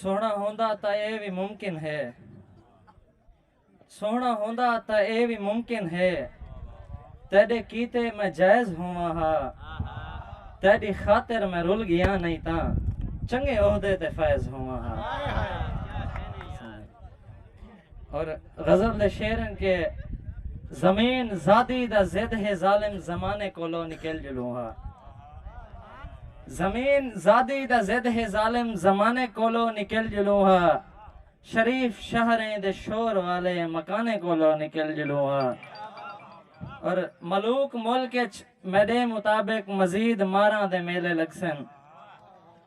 سوہݨا ہوندا تاں ایہ وی ممکن ہے۔ سوہݨا ہوندا تاں ایہ وی ممکن ہے۔ تیݙے کیتے میں جائز ہوواں ہا۔ تیݙی خاطر میں رل ڳیاں نئیں تاں چنڳے عہدے تے فائز ہوواں ہا۔ اور غزل دے شعر ہن کہ زمین زادی دا زد ہے ظالم زمانے کولو نکل جلوں ہا زمین زادی دا زد ہے ظالم زمانے کولو نکل جلوں ہا شریف شہریں دے شور والے مکانے کولو نکل جلوں ہا اور ملوک ملک میڈے مطابق مزید ماراں دے میلے لگسن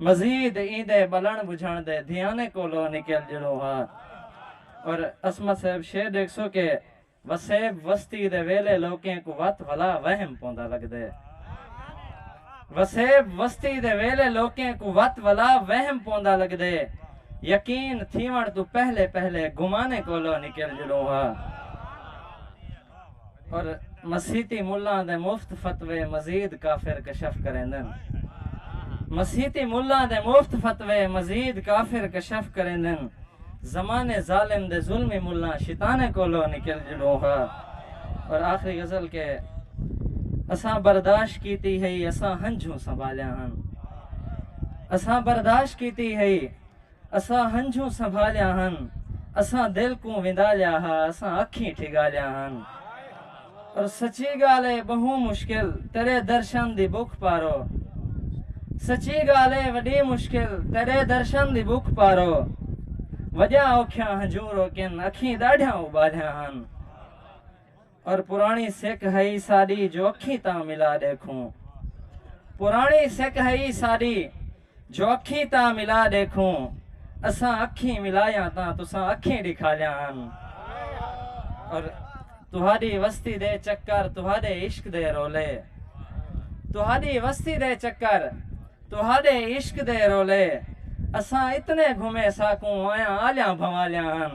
مزید ایندے بلن بجھن دے دھیانے کولو نکل جلو ہا اور عصمت صاحب شے ڈیکھسو کہ وسیب وستی دے ویلے لوکیں کوں وت ولا وہم پوندا لگدے۔ وسیب وستی دے ویلے لوکیں کوں وت ولا وہم پوندا لگدے۔ یقین تھیون توں پہلے پہلے گمانے کولو نکل جلو ہا۔ پر مسیتی ملاں دے مفت فتوے مزید کافر کشف کریندن۔ مسیتی ملاں دے مفت فتوے مزید کافر کشف کریندن۔ زمانے ظالم دے ظلمی ملاں شیطانے کولو نکل جڑوں ہا۔ اور آخری غزل کے اساں برداشت کیتی ہئی اساں ہنجھوں سنبھالیاں ہن۔ اساں برداشت کیتی ہئی۔ اساں ہنجھوں سنبھالیاں ہن اساں دل کوں وندالیا ہا اساں اکھیں ٹھگالیاں ہن اور سچی گال ہے بہوں مشکل تیرے درشن دی بک پارو سچی گال ہے وڈی مشکل تیرے درشن دی بک پارو وجہ اوکھیاں ہنجھوں روکن اکھیں داڑھیاں ابالیاں ہن اور پراݨی سک ہئی ساݙی جو اکھیں تاں ملا ݙیکھوں پراݨی سک ہئی ساݙی جو اکھیں تاں ملا ݙیکھوں اساں اکھیں ملایاں تاں تساں اکھیں ݙکھالیاں ہن اور تہاݙی وستی دے چکر تہاݙے عشق دے رولے تہاݙی وستی دے چکر تہاݙے عشق دے رولے اساں اتنے گھمے ساکوں آیاں آلیاں بھنوالیاں ہن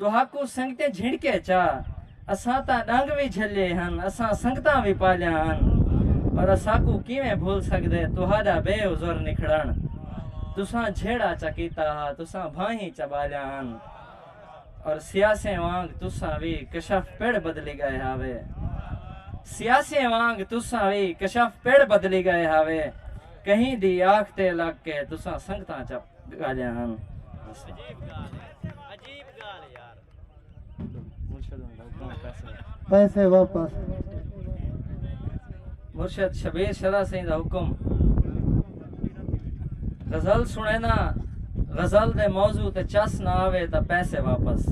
تہاکوں سنگتیں جھنڈکے چا اساں تاں ڈنگ وی جھلیے ہن اساں سنگتاں وی پالیاں ہن اور اساکوں کیویں بھل سگدے تہاڈا بے عذر نکھڑن تساں جھیڑا چا کیتا ہا تساں بھانہیں چا بالیاں ہن اور سیاسیں وانگ تساں وی کشف پڑ بدلی گئے ہاوے سیاسیں وانگ تساں وی کشف پڑ بدلی گئے ہاوے کہیں دی آکھ تے لگ کے تساں سنگتاں چا گالیاں ہن۔ پیسے واپس۔ مرشد شبیر شرح سئیں دا حکم۔ غزل سنینا غزل دے موضوع تے چس نہ آوے تاں پیسے واپس۔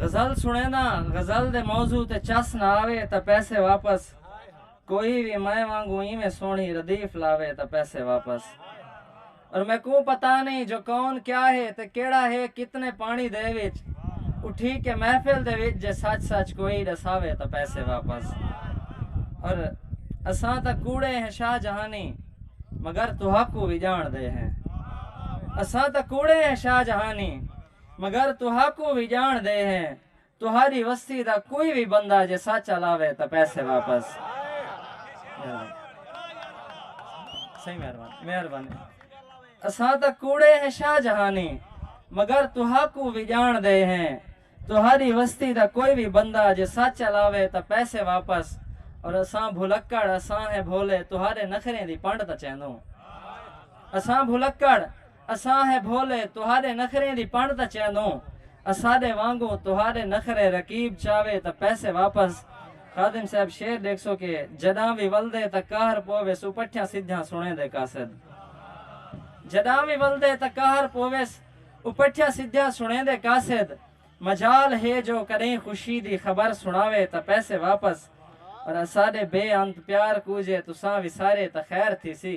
غزل سنینا غزل دے موضوع تے چس نہ آوے تاں پیسے واپس۔ کوئی وی میں وانگوں ایویں سوہنی ردیف لاوے تاں پیسے واپس۔ اور میکوں پتہ نئیں جو کون کیا ہے تے کیہڑا ہے کتنے پانی دے وچ اٹھی کے محفل دے وچ جے سچ سچ کوئی ڈساوے تاں پیسے واپس۔ اور اساں تاں کوڑے ہیں شاہ جہانی مگر تہاکوں وی جان دے ہیں۔ اساں تاں کوڑے ہیں شاہ جہانی مگر تہاکوں وی جان دے ہیں۔ تہاݙی وستی دا کوئی وی بندہ جے سچ الاوے تاں پیسے واپس مہربانی اساں تاں کوڑے ہیں شاہ جہانی مگر تہاکوں وی ڄاݨ دے ہیں تہاݙی وستی دا کوئی وی بندہ جے سچ الاوے تاں پیسے واپس اور اساں بھلکڑ اساں ہیں بھولے تہاݙے نخریں دی پنڈ تاں چیندوں اساں بھلکڑ اساں ہے بھولے تہاݙے نخریں دی پݨ تاں چیندوں اساݙے وانگوں تہاݙے نخرے رقیب چاوے تاں پیسے واپس خادم صاحب شعر ݙیکھسو کہ جݙاں وی ولدے تاں قہر پوویس او پٹھیاں سدھیاں سݨیندے قاصد جݙاں وی ولدے تاں قہر پوویس او پٹھیاں سدھیاں سݨیندے قاصد مجال ہے جو کݙئیں خوشی دی خبر سݨاوے تاں پیسے واپس اور اساݙے بے انت پیار کوجے تساں وسارے تاں خیر تھیسی۔